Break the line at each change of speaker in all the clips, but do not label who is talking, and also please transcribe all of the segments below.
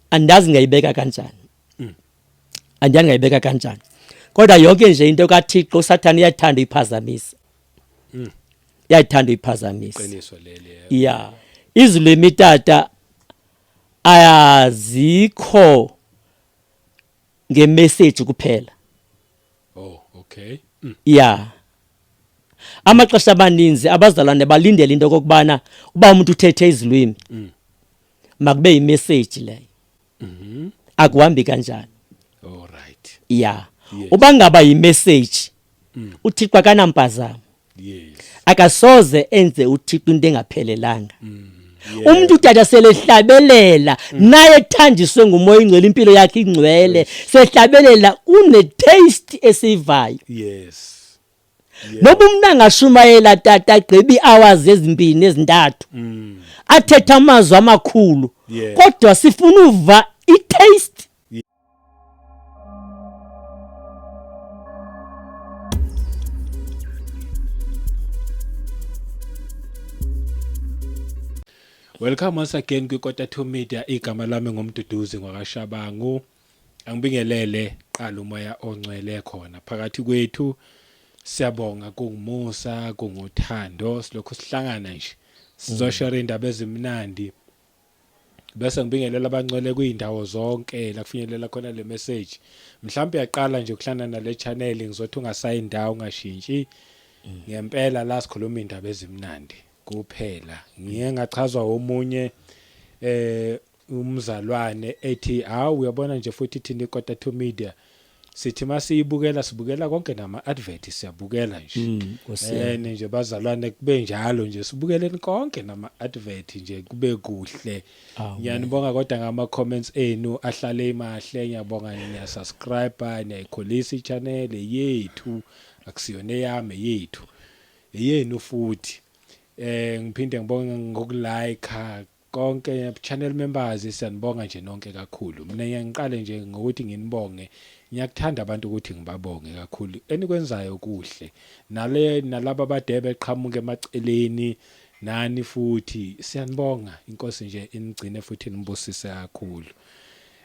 andazi ngayibeka kanjani mm. andazi ngayibeka kanjani kodwa yonke nje into kaThixo uSathane uyathanda iphazamisa mm. uyathanda iphazamisa qiniso leli
yeah
izulu emitata ayazikho ngemessage kuphela
oh okay mm. yeah
amaxesha abaninzi abazalwane balindele into kokubana uba umuntu uthethe izilwimi mm. makube yimeseji leyo mhm. akuhambi kanjani alright
ya
uba ngaba yimeseji mm. uthixo akanampazamo
akasoze
enze uthixo into engaphelelanga mm. umuntu utata selehlabelela mm. naye ethanjiswe ngumoya ingcwele impilo yakhe ingcwele sehlabelela une taste esivayo yes noba umntu angashumayela tata agqiba ii-hours ezimbini ezintathu mm. athethe amazwi amakhulu kodwa sifuna uva i-taste
welcome once again kwikota two media igama lami ngumduduzi ngwakashabangu angibingelele qala umoya ongcwele khona phakathi kwethu siyabonga kungumusa kunguthando silokhu sihlangana nje sizoshare mm. indaba ezimnandi bese ngibingelela abangcwele kuyindawo zonke la kufinyelela khona le message mhlawumbe uyaqala nje ukuhlana nale channel ngizothi ungasayi indawo ungashintshi mm. ngempela la sikhuluma indaba ezimnandi kuphela ngiye ngachazwa omunye eh umzalwane ethi hawu uyabona nje futhi thina ikota to media sithi masiyibukela sibukela konke nama advert siyabukela nje mm, and nje bazalwane kube njalo nje sibukeleni konke nama advert nje kube kuhle ngiyanibonga kodwa ngama comments enu ahlale imahle ngiyabonga niya subscribe niyayikhulisa i channel yethu akusiyona eyami yethu eyenu futhi eh ngiphinde ngibonge ngokulike konke channel members siyanibonga nje nonke kakhulu mina ngiyangiqale nje ngokuthi nginibonge ngiyakuthanda abantu ukuthi ngibabonge kakhulu enikwenzayo kuhle nale nalabo abadebe qhamuke emaceleni nani futhi siyanibonga inkosi nje inigcine futhi nibusise kakhulu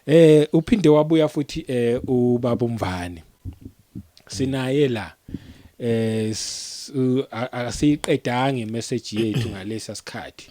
eh uphinde wabuya futhi eh ubaba umvani sinaye la eh asiqedange message yethu ngalesa sikhathi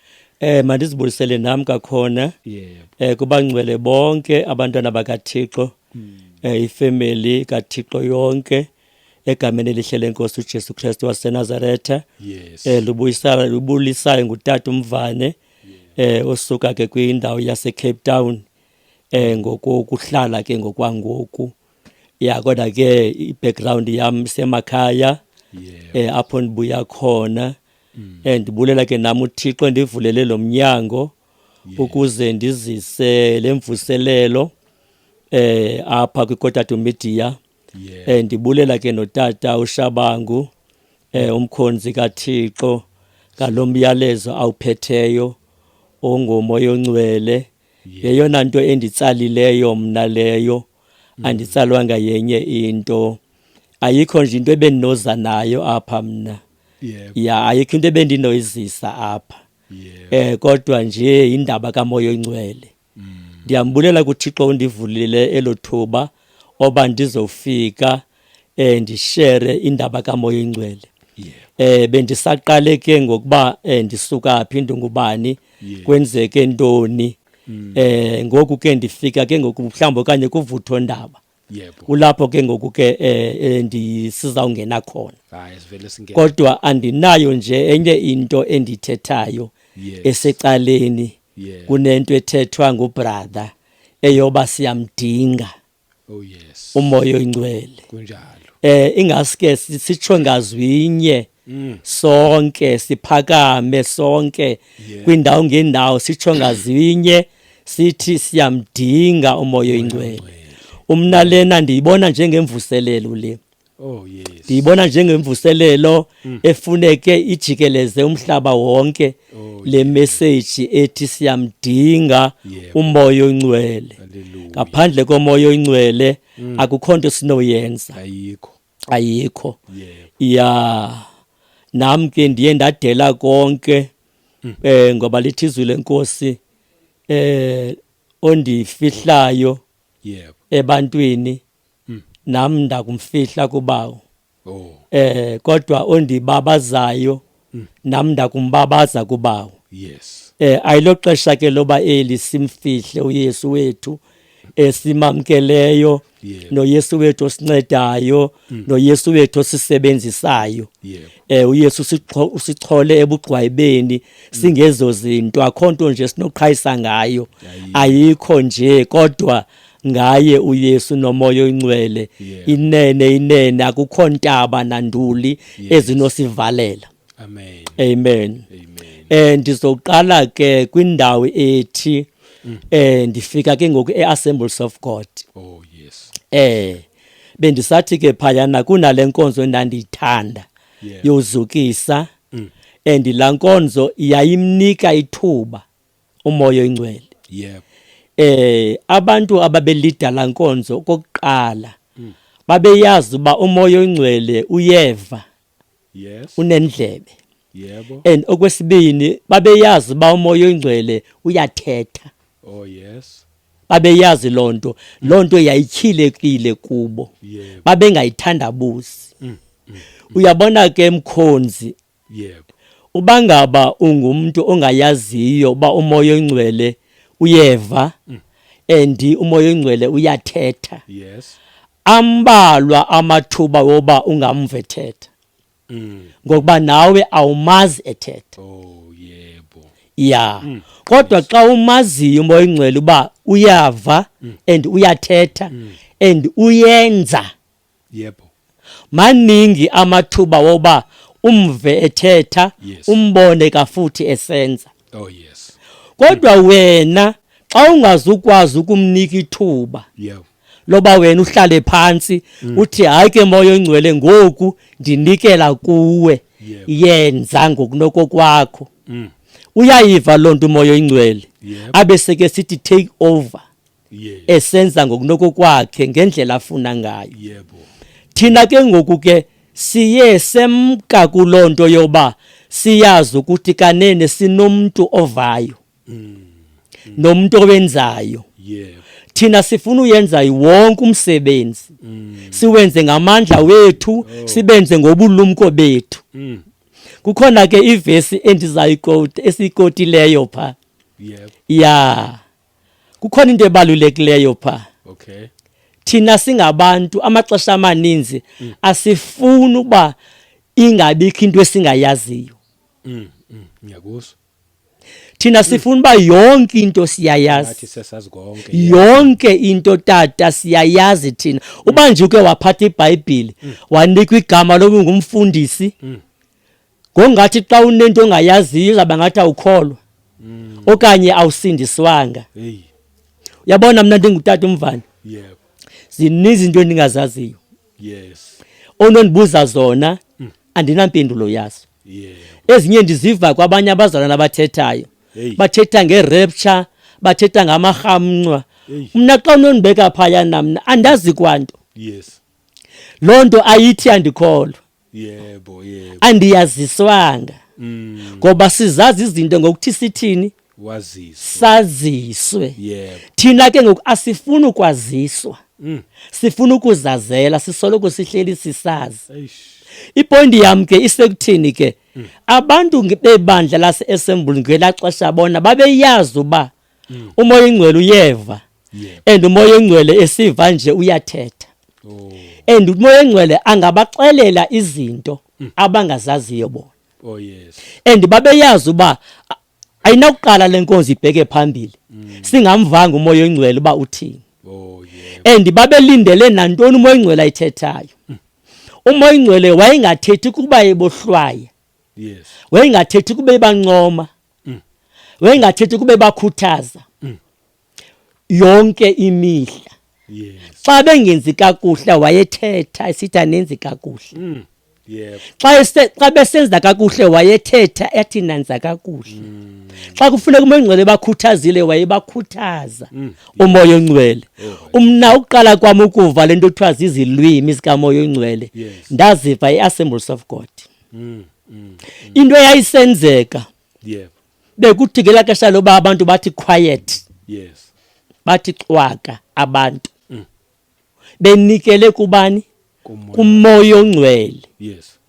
Eh mandizibulisele nam
kakhona yebo eh kubangcwele bonke abantwana bakaThixo eh ifamily kaThixo yonke egameni elihle lenkosi uJesu Kristu waseNazaretha yes eh lubuyisana lubulisayo ngutata umvane eh osuka ke kwindawo yase Cape Town eh ngokuhlala ke ngokwangoku ya kodwa ke i-background yam semakhaya yebo eh apho ndibuya khona mm. and ndibulela ke nam uthixo ndivulele lo mnyango yeah. ukuze ndizise le mvuselelo eh apha kwikotatu media yeah. eh ndibulela ke notata ushabangu eh umkhonzi kathixo ngalomyalezo awuphetheyo ongomoya ongcwele yeyona nto enditsalileyo mna leyo mm. anditsalwanga yenye into ayikho nje into ebendinoza nayo apha mna yebo ya ayikho into ebendinoyizisa apha yebo eh kodwa nje indaba kamoya oyingcwele ndiyambulela kuthixo undivulile elo thuba oba ndizofika eh ndishere indaba kamoya oyingcwele yebo eh bendisaqale ke ngokuba eh, ndisuka phi ndingubani Yeah. Mm. kwenzeke ntoni eh ngoku ke ndifika ke ngoku mhlawumbi okanye kuvutho ndaba yebo kulapho ke ngoku ke eh, eh ndisizawungena khona hayi sivele singena kodwa andinayo nje enye into endithethayo yes. esecaleni yeah. kunento ethethwa ngubrother eyoba siyamdinga oh yes umoya oyingcwele kunjalo eh
ingaske
sitsho ngazwinye mm. sonke siphakame sonke yeah. kwindawo ngendawo sitsho ngazinye sithi siyamdinga umoya oyingcwele umna lena ndiyibona njengemvuselelo le Oh
yes. Ndiyibona njengemvuselelo
mm. efuneke ijikeleze umhlaba wonke oh, le message ethi siyamdinga umoya oyingcwele. Ngaphandle komoya oyingcwele mm. akukho nto sinoyenza. Ayikho. ayikho ya nam ke ndiye ndadela konke mm. eh ngoba lithi izwi lenkosi eh ondifihlayo yebo ebantwini mm. nam ndakumfihla kubawo oh. eh kodwa ondibabazayo mm. nam ndakumbabaza kubawo yes eh ayilo xesha ke loba eli simfihle uYesu wethu esimamkeleyo yeah. noYesu wethu osincedayo mm. noYesu wethu osisebenzisayo yeah. eh uYesu usichole ebugqwayibeni mm. singezo zinto akho nto nje sinoqhayisa ngayo yeah, yeah. ayikho nje kodwa ngaye uYesu nomoya oyingcwele yeah. inene inene akukho ntaba nanduli yes. ezinosivalela amen amen, amen. eh ndizoqala ke kwindawo ethi mm. eh ndifika ke ngoku eAssemblies of God oh yes eh bendisathi ke phayana kunale nkonzo endandiyithanda yeah. yozukisa mm. and la nkonzo yayimnika ithuba umoya oyingcwele yebo eh abantu ababelidala nkonzo kokuqala mm. babeyazi uba umoya oyingcwele uyeva yes unendlebe yebo and okwesibini babeyazi uba umoya oyingcwele uyathetha oh yes babeyazi lonto lonto yayityhilekile kubo babengayithandabuzi mm. mm. uyabona ke mkhonzi Yebo. Uba ngaba ungumntu ongayaziyo uba umoya oyingcwele uyeva mm. and umoya oyingcwele uyathetha. Yes. Ambalwa amathuba woba ungamve thetha. Mm. Ngokuba nawe awumazi ethetha. Oh yebo. Yeah. Mm. Kodwa xa umaziyo umoya oyingcwele uba uyava and uyathetha and uyenza. yebo maningi amathuba woba umve ethetha yes. umbone kafuthi esenza oh yes kodwa wena xa ungazukwazi ukumnika ithuba yeah loba wena uhlale phansi mm. uthi hayi ke moya ongcwele ngoku ndinikela kuwe yenza ngokunokokwakho mm. uyayiva loo nto umoya oyingcwele abe seke sithi take over esenza ngokunokokwakhe ngendlela afuna ngayo yebo thina ke ngoku ke siye semka kuloo nto yoba siyazi ukuthi kanene sinomntu ovayo mm. nomntu owenzayo yebo thina sifuna uyenza wonke umsebenzi mm. siwenze ngamandla wethu oh. sibenze ngobulumko bethu mm. kukhona ke ivesi endizayiqoti esiyikotileyo pha yebo yeah. kukhona into ebalulekileyo pha okay thina singabantu amaxesha amaninzi mm. asifuni uba ingabikho into esingayaziyo mm, mm, ngiyakuso thina sifuna uba yonke into siyayazi yonke into tata siyayazi thina uba nje uke waphatha ibhayibhile wanikwa igama loba ungumfundisi ngongathi xa unento ongayaziyo izawuba ngathi awukholwa mm. okanye awusindiswanga uyabona mna ndingutata umvana zininzi izinto endingazaziyo onondibuza zona mm. andinampendulo yazo ezinye ndiziva kwabanye abazalwana abathethayo bathetha ngerepture bathetha ngamarhamncwa mna xa unondibeka phaya namna andazi kwanto loo nto ayithi andikholwa yebo yebo andiyaziswanga mm. ngoba sizazi izinto ngokuthi sithini waziswe saziswe yebo thina ke ngoku asifuni ukwaziswa mm. sifuna ukuzazela sisoloko sihleli sisazi ipondi yam ke isekuthini ke mm. abantu bebandla lase-assemble ngela xesha bona babeyazi uba mm. umoya oyingcwele uyeva and umoya oyingcwele esiva nje uyathetha oh. and umoya oyingcwele angabaxelela izinto mm. abangazaziyo bona oh, and babeyazi uba ayinakuqala le nkonzi ibheke phambili mm. singamvanga umoya oyingcwele uba uthini oh, and babelindele nantoni umoya oyingcwele ayithethayo umoya oyingcwele wayengathethi kuba ebohlwaya wayengathethi kuba ebancoma mm. wayengathethi kube bakhuthaza mm. yonke imihla
yes. xa bengenzi
kakuhle wayethetha esithi anenzi kakuhle mm.
yep. xa
besenza kakuhle wayethetha athi nanza kakuhle mm. xa kufuneka umoya ongcwele bakhuthazile wayebakhuthaza mm. umoya ongcwele oh, umna ukuqala kwam ukuva le nto kuthiwa zizilwimi zikamoya ongcwele yes. ndaziva i-assembles of god mm, mm, into eyayisenzeka yebo
bekuthi ngelaa
xesha loba abantu bathi quiet yes
bathi
cwaka abantu mm. benikele kubani kumoya ongcwele yes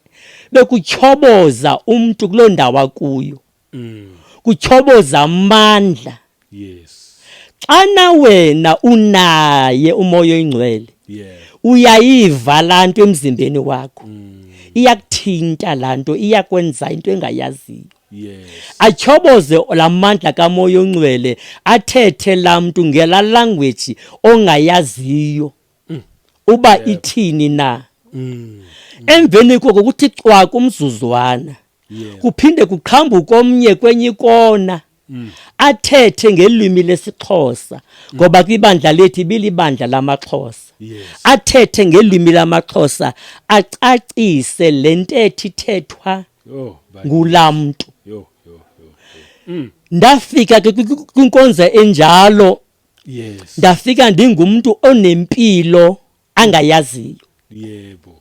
bekutyhoboza
umntu kuloo ndawo akuyo mm. kutyhoboza amandla yes
xana
wena unaye umoya oyingcwele yeah uyayiva lanto emzimbeni wakho mm. iyakuthinta lanto iyakwenza into engayaziyo Yes.
Achoboze
lamandla kamoya ongcwele athethe lamntu ngela language ongayaziyo. mm. uba yeah. ithini na mm. mm. emveni koko kuthi cwaka umzuzwana yeah. kuphinde kuqhambuke omnye kwenye ikona mm. athethe ngelwimi lesixhosa ngoba kwibandla lethu ibilibandla lamaxhosa yes. athethe ngelwimi lamaxhosa acacise le ntetho ithethwa oh, ngulaa mntu mm. ndafika ke kwinkonza enjalo yes ndafika ndingumntu onempilo angayaziyo yebo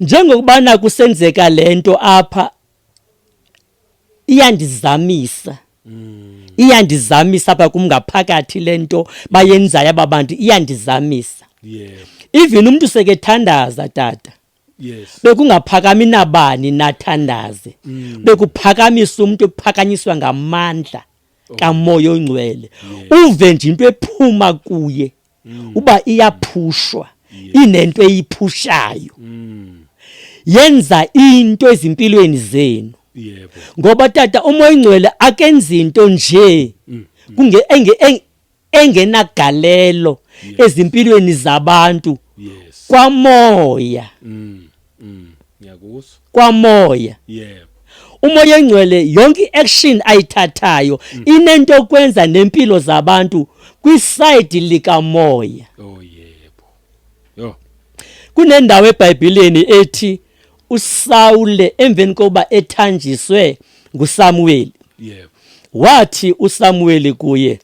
njengokubana kusenzeka lento apha iyandizamisa mm. iyandizamisa apha kum ngaphakathi le nto bayenzayo aba bantu iyandizamisa yebo even umntu sekethandaza tata yes bekungaphakami nabani nathandaze mm. bekuphakamisa umuntu ephakanyiswa ngamandla oh. kamoya ongcwele uve nje into ephuma kuye mm. uba iyaphushwa inento eyiphushayo mm. yenza into ezimpilweni zenu yebo ngoba tata umoya ingcwele akenza into nje kunge engenagalelo ezimpilweni zabantu yes kwamoya mm
mm ngiyakuso kwamoya
yebo umoya engcwele yonke iaction ayithathayo mm. inento okwenza nempilo zabantu kwiside likamoya oh yeah Yho. Kunendawo eBhayibhileni ethi uSawule emveni kokuba ethanjiswe nguSamuweli. Yebo. Wathi uSamuweli kuye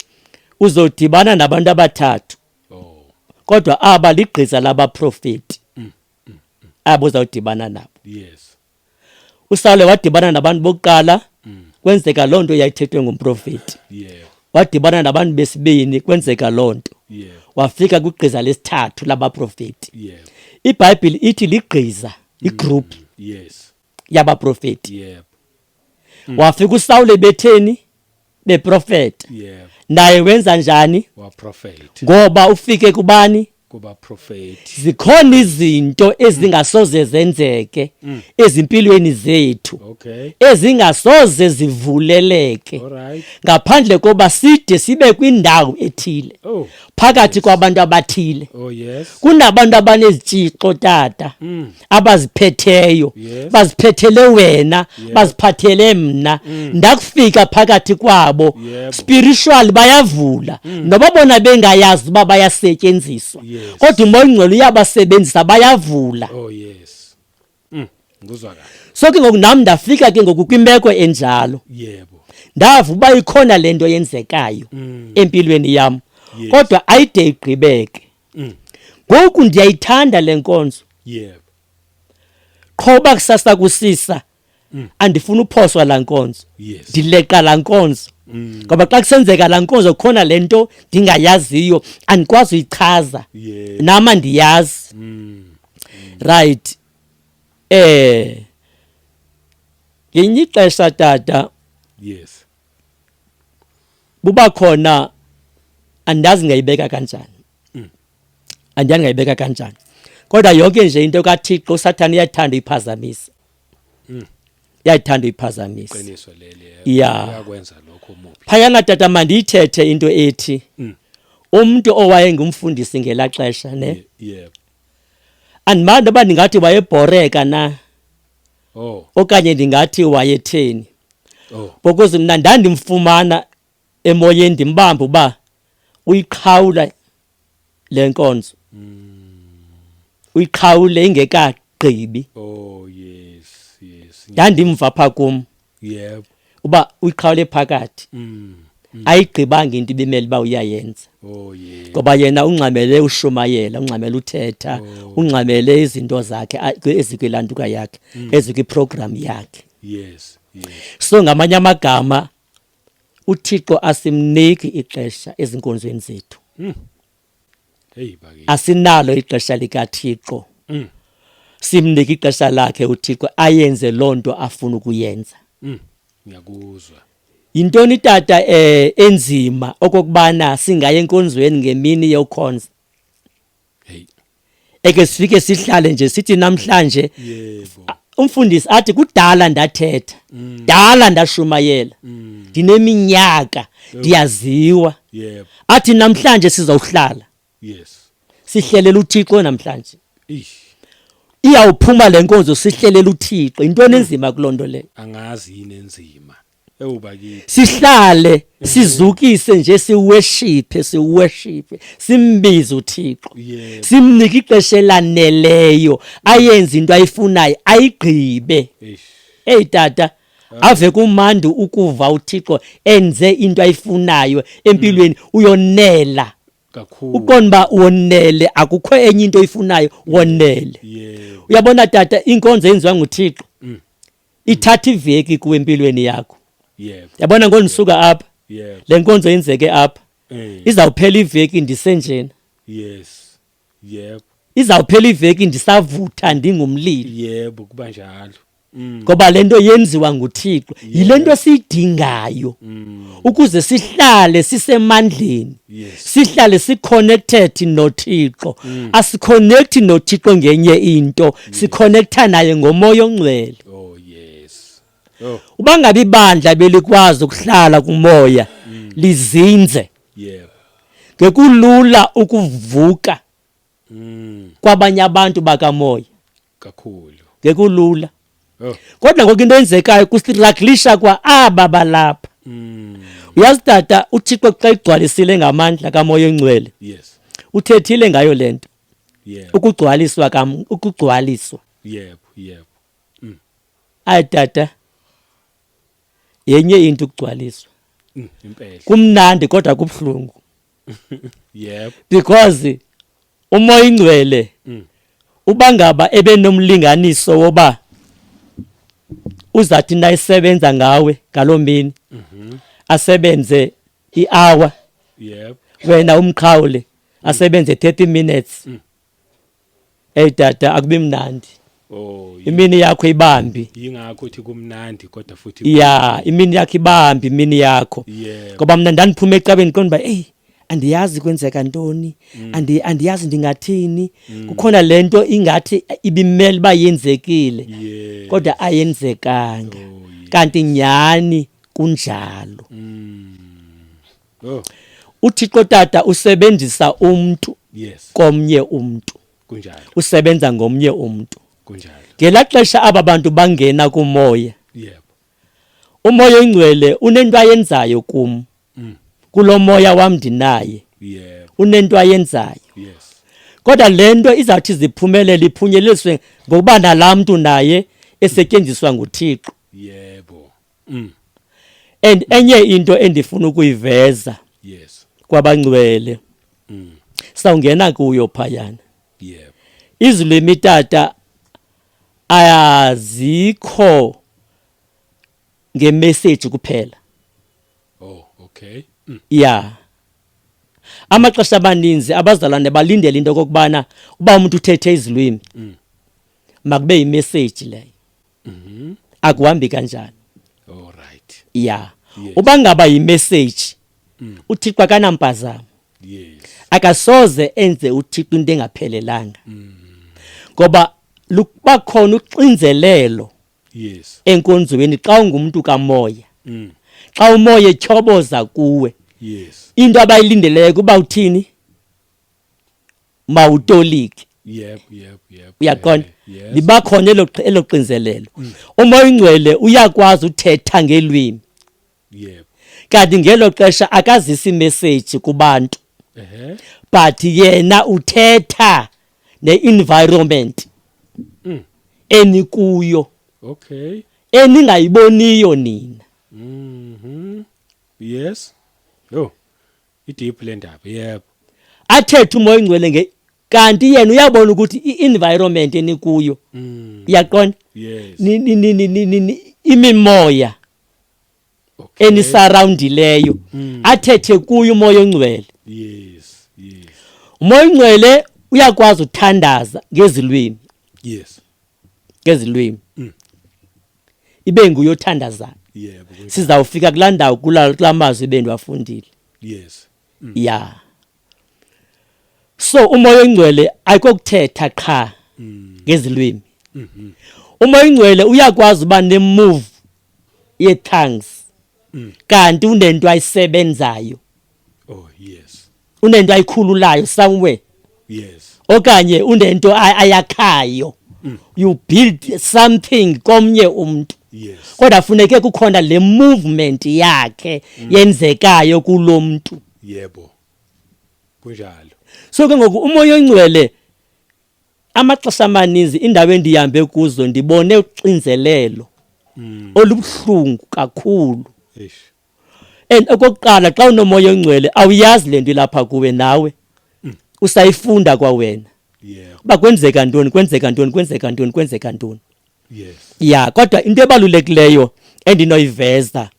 uzodibana nabantu abathathu. Oh. Kodwa aba ligqiza labaprofeti. Mm, mm, mm. Abo uzawudibana nabo. Yes. usawule wadibana nabantu bokuqala mm. kwenzeka loo nto yayithethwe ngumprofeti wadibana nabantu besibini kwenzeka loo nto wafika kwigqiza lesithathu labaprofeti ibhayibhile ithi ligqiza igroup mm. yabaprofeti wafika usawule betheni beprofeta yebo naye wenza njani waprofeti ngoba ufike kubani kuba profeti zikhona izinto ezingasoze zenzeke Mm. ezimpilweni zethu okay ezingasoze zivuleleke all right ngaphandle koba side sibe kwindawo ethile oh phakathi kwabantu abathile oh yes kunabantu abanezitshixo tata Mm. abaziphetheyo yes. baziphethele wena yes. baziphathele mna mm. ndakufika phakathi kwabo yep. spiritual bayavula mm. noba bona bengayazi uba bayasetyenziswa yes. kodwa umoya ongcwele uyabasebenzisa bayavula oh, yes.
mm. so ke ngoku nam
ndafika ke ngoku kwimeko enjalo yebo ndava uba ikhona le nto yenzekayo mm. empilweni yam yes. kodwa ayide igqibeke mm. ngoku ndiyayithanda le nkonzo yebo qho uba kusasa kusisa mm. andifuni uphoswa la nkonzo yes. ndileqa la nkonzo mm. ngoba xa kusenzeka la nkonzo khona le nto ndingayaziyo andikwazi uyichaza yeah. nama ndiyazi mm. mm. right eh ngenye ixesha tata yes buba khona andazi ngayibeka kanjani mm. andazi ngayibeka kanjani kodwa yonke nje into kaThixo uSathane uyathanda iphazamisa mm. yayithanda uyiphazamisa qiniso leli eh,
uyakwenza
lokho umubi phayana
tata mandiyithethe
into ethi mm. umuntu owaye ngumfundisi ngela xesha ne yebo andimandi uba ndingathi wayebhoreka na oh. okanye ndingathi wayetheni oh. because mna ndandimfumana emoyeni ndimbamba uba uyiqhawula le nkonzo mm. uyiqhawule ingekagqibi oh,
yes, yes, yes. ndandimva pha
kum yebo
uba uyiqhawule
phakathi mm. Mm. ayigqibanga into ibimele uba uyayenza oh, ngoba
yena ungxamele
ushumayela ungxamele uthetha oh. ungxamele izinto zakhe ezikwilanduka yakhe mm. ezikwiprogram yakhe yes
so ngamanye
amagama uthixo asimniki ixesha ezinkonzweni zethu hmm.
asinalo ixesha
likathixo mm. simnike ixesha lakhe uthixo ayenze loo nto afuna ukuyenza mm. ngiyakuzwa
yintoni
tata eh enzima okokubana singaye enkonzweni ngemini yokhonza
eke
sifike sihlale nje sithi namhlanje
umfundisi athi
kudala ndathetha mm. dala ndashumayela mm. ndineminyaka ndiyaziwa
athi namhlanje
sizawuhlala yes
sihlelela
uThixo namhlanje
iyawuphuma
lenkonzo sihlelela uThixo into enenzima kulonto le angazi yini
enzima ewu bakithi sihlale
sizukise nje siweshiphe siweshiphe simbize uThixo Yebo. simnike
ixesha
elaneleyo ayenze into ayifunayo ayigqibe eish
hey tata
ave kumandi ukuva uThixo enze into ayifunayo empilweni uyonela kakhulu
uqonda uba wonele
akukho enye into oyifunayo wonele yebo uyabona
tata
inkonzo yenziwa nguThixo ithatha iveki kuwe empilweni yakho yebo yabona
ngondisuka
apha yebo le nkonzo
yenzeke
apha eh izawuphela iveki ndisenjena yes
yebo izawuphela
iveki ndisavutha ndingumlilo yebo kuba njalo
mm. ngoba le
nto yenziwa nguthixo yile nto siyidingayo mm. ukuze sihlale sisemandleni Yes. sihlale siconnected nothixo Mm. asiconnect nothixo ngenye into sikhonektha naye ngomoya ongcwele oh yes
oh uba ngabe ibandla
belikwazi ukuhlala kumoya mm. lizinze yeah
ngekulula
ukuvuka mm. kwabanye abantu bakamoya kakhulu
ngekulula
oh.
kodwa ngoku into
enzekayo kusiraglisha kwa aba balapha mm. uyazi tata uthixo xa igcwalisile ngamandla kamoya ongcwele yes
uthethile ngayo
le nto yebo
ukugcwaliswa kam ukugcwaliswa
yebo yebo
mm.
ayi tata yenye into ukugcwaliswa mm, impela
kumnandi kodwa
kubhlungu
yebo because
umoya ingcwele mm. uba ngaba ebenomlinganiso woba uzathi nayisebenza ngawe ngaloo mini mm -hmm. asebenze ihour yebo
wena umqhawule
asebenze 30 minutes mm. hey tata akubi mnandi Oh,
imini yakho
ibambi yingakho uthi
kumnandi kodwa futhi ya imini yakho
ibambi imini yakho ngoba mina
ndandiphuma ecabeni
qonda uba eyi andiyazi kwenzeka ntoni mm. andi andiyazi ndingathini mm. kukhona lento ingathi ibimele ba yenzekile kodwa ayenzekanga oh, kanti nyani kunjalo mm.
Oh. UThixo
Tata usebenzisa umntu yes. komnye
umntu
kunjalo
usebenza ngomnye
umntu kunjalo ngela
xesha aba
bantu bangena kumoya yebo
umoya
oyingcwele unento ayenzayo kum mm. kulo moya wam ndinaye yebo unento
ayenzayo
yes
kodwa le
nto izawuthi ziphumelele iphunyeleliswe ngokuba nalaa mntu naye esetyenziswa nguthixo yebo
mm.
and enye into endifuna ukuyiveza yes
kwabangcwele
mm. sawungena kuyo phayana yeah
izulu
emitata ayazikho ngemessage kuphela oh
okay mm. yeah
amaxesha abaninzi abazalwane balindele into okokubana uba umuntu uthethe izilwimi mm. makube yimessage leyo mm -hmm. akuhambi kanjani all right
yeah yes.
uba ngaba
yimessage
mm. uthixo akanampazamo yes
akasoze
enze uthixo into engaphelelanga mm. ngoba lukuba khona uxinzelelo yes
enkonzweni xa
ungumntu kamoya mm. xa umoya etyhoboza kuwe yes into
abayilindeleyo
kuba uthini mawutolike yebo yebo
yebo uyaqonda
libakhona
elo
elo xinzelelo mm. uma ingcwele uyakwazi uthetha ngelwimi yebo kanti ngelo xesha akazisi message kubantu ehe but yena uthetha ne environment mm. enikuyo okay
eningayiboniyo
nina mhm
yes yo idiphu le ndaba yebo athethe umoya
ingcwele nge kanti yena uyabona ukuthi i-environment enikuyo mm. iyaqonda
yes imimoya
okay. enisurroundileyo mm. athethe kuyo umoya ongcwele yes
yes umoya ongcwele
uyakwazi uthandaza ngezilwimi yes
ngezilwimi
mm. ibe nguye othandazayo yebo
sizawufika kulaa
ndawo kulaa mazwi bendiwafundile yes
mm. ya
so umoya oyingcwele ayikokuthetha qha mm. ngezilwimi mm-hmm. umoya oyingcwele uyakwazi uba nemove ye-tongues mm. kanti unento ayisebenzayo oh
yes unento ayikhululayo
somewhere yes
okanye unento
ayakhayo mm. you build something komnye umuntu yes kodwa
funeke kukhona
le movement yakhe mm. yenzekayo kulomuntu yebo
kunjalo so ke
ngoku umoya ongcwele amaxesha amaninzi indawo endihambe kuzo ndibone uxinzelelo mm. olubuhlungu kakhulu
and
okokuqala xa unomoya ongcwele awuyazi le nto ilapha kuwe nawe usayifunda kwawena yeah uba kwenzeka
ntoni
kwenzeka ntoni kwenzeka ntoni kwenzeka ntoni yes ya
kodwa into
ebalulekileyo endinoyiveza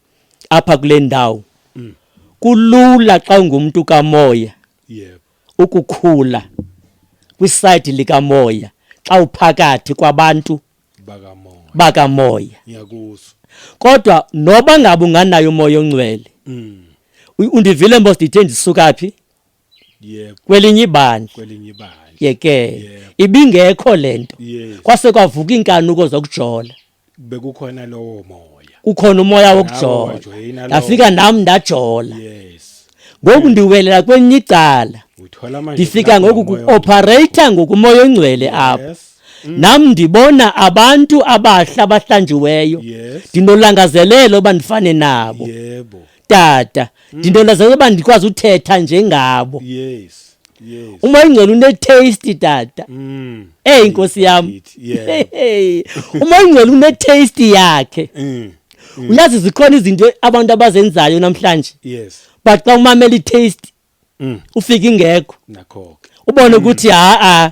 apha kule ndawo mm. kulula xa ungumntu kamoya yebo
ukukhula
kwisayidi likamoya xa uphakathi kwabantu bakamoya bakamoya ngiyakuso
kodwa
noba ngabe unganayo umoya ongcwele mm. undivile mos ndithe ndisuka phi yebo
kwelinye ibandla
kwelinye ibandla yeke yep. ibingekho lento yes. kwase kwavuka inkanuko zokujola bekukhona
lowo moya kukhona umoya
wokujola ngafika nami ndajola yes
ngoku ndiwelela
kwenye icala ndifika
ngoku
kuophareyitha ngokumoya ongcwele apho Mm. nam ndibona abantu abahla abahlanjiweyo ndinolangazelelo uba ndifane nabo
tata mm.
ndinolangazelelo uba ndikwazi uthetha njengabo
umoya ingcwele
unetaste tata mm. eyi nkosi yam umoya ingcwele unetaste yakhe mm. uyazi zikhona izinto abantu abazenzayo namhlanje yes but xa
umamela
i-taste mm. ufika ingekho nakho-ke ubone
mm. ukuthi mm.
haa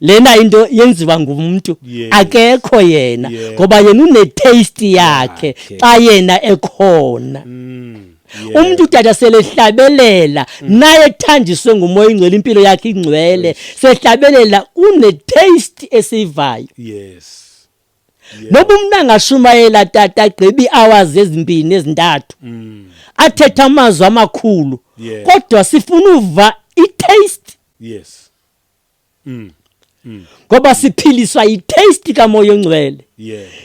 lena into yenziwa ngumntu yes. akekho yena yeah. ngoba yena unetaste yakhe okay. xa yena ekhona mm. Yeah. umuntu udada selehlabelela mm. naye ethanjiswe ngumoya ingcwele impilo yakhe ingcwele yes. sehlabelela une taste esivayo yes noba umntu angashumayela tata agqiba ii-hours ezimbini ezintathu mm. athethe amazwi amakhulu kodwa sifuna uva i-taste yes
mm. mm.
ngoba siphiliswa yi-taste kamoya ongcwele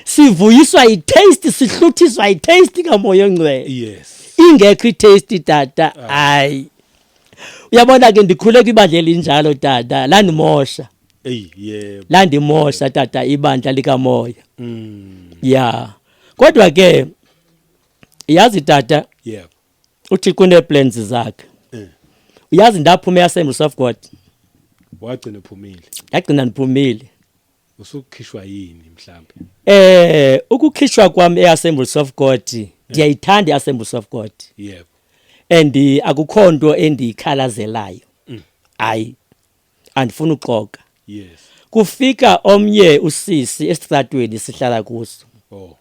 sivuyiswa
yi-taste sihluthiswa yi-taste kamoya ongcwele yes ingekho
i-taste
tata ah. hayi uyabona ke ndikhule kwibandla elinjalo tata landimosha Ey yebo.
landimosha
tata ibandla likamoya Mm. ya kodwa ke yazi tata Yebo.
uthi
kuneplans zakhe Eh. uyazi ndaphume yasembuso of god Wagcina
ephumile. ndagcina ndiphumile
Usukhishwa
yini mhlambe? eh
ukukhishwa kwami eyasembuso of god ndiyayithanda eyasembuso of god Yebo.
and
akukho nto endiyikhalazelayo hayi andifuni uxoka yes
kufika
omnye usisi esitratweni sihlala kuso
oh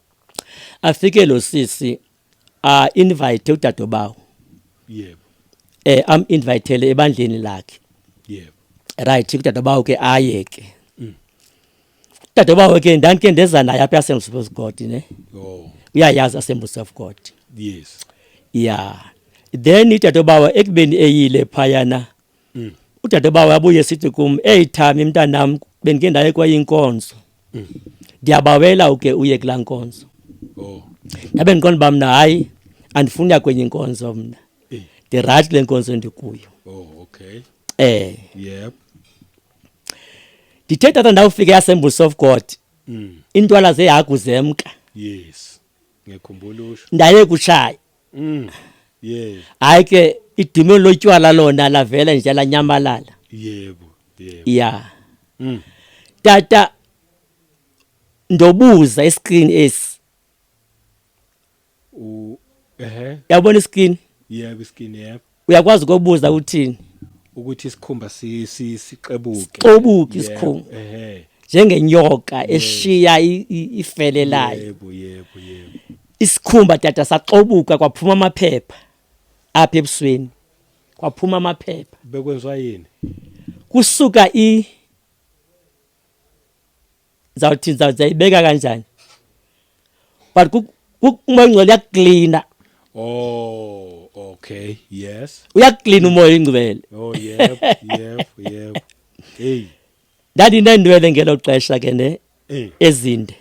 afike
lo sisi a invite udadobawo yebo
eh am
invitele ebandleni lakhe yebo
right
udadobawo ke aye ke mm. udadobawo ke ndandike ndeza naye apha assemblies of god ne oh uyayazi
assemblies
of god yes
yeah
then udadobawo ekubeni eyile phayana mm. udadebawo abuye sithi kum eyi thami mntanam bendike ndaye kwayinkonzo mm. ndiyabawela uke uye kulaa nkonzo oh.
ndabe ndiqonda uba
mna hayi andifuni ya kwenye inkonzo mna eh. ndirayithi le nkonzo ndikuyo oh, okay.
eh yep.
ndithe tata ndawufika eassembles of god mm. intwala zehagu zemka yes. ndaye
kutshaya
Mm. Yes.
Hayi ke
idimoni lotywala lona lavela nje lanyamalala. Yebo. Yebo.
Yeah. Mm. Tata
ndobuza iscreen esi. U ehe. Yabona iscreen? Yebo iscreen
yebo. uyakwazi ukubuza
uthini ukuthi isikhumba
sixebuke xobuke
isikhumba ehe njengenyoka eshiya ifele layo yebo yebo yebo isikhumba tata saxobuka kwaphuma amaphepha apha ebusweni kwaphuma amaphepha bekwenziwa yini
kusuka
i ndizawuthi ndizawuzayibeka kanjani but umoya ingcwele uyakuklina oh
okay yes uyakuklina umoya
ingcwele oh
yep yep yep hey
ndandinendwele ngelo xesha ke ne eh. ezinde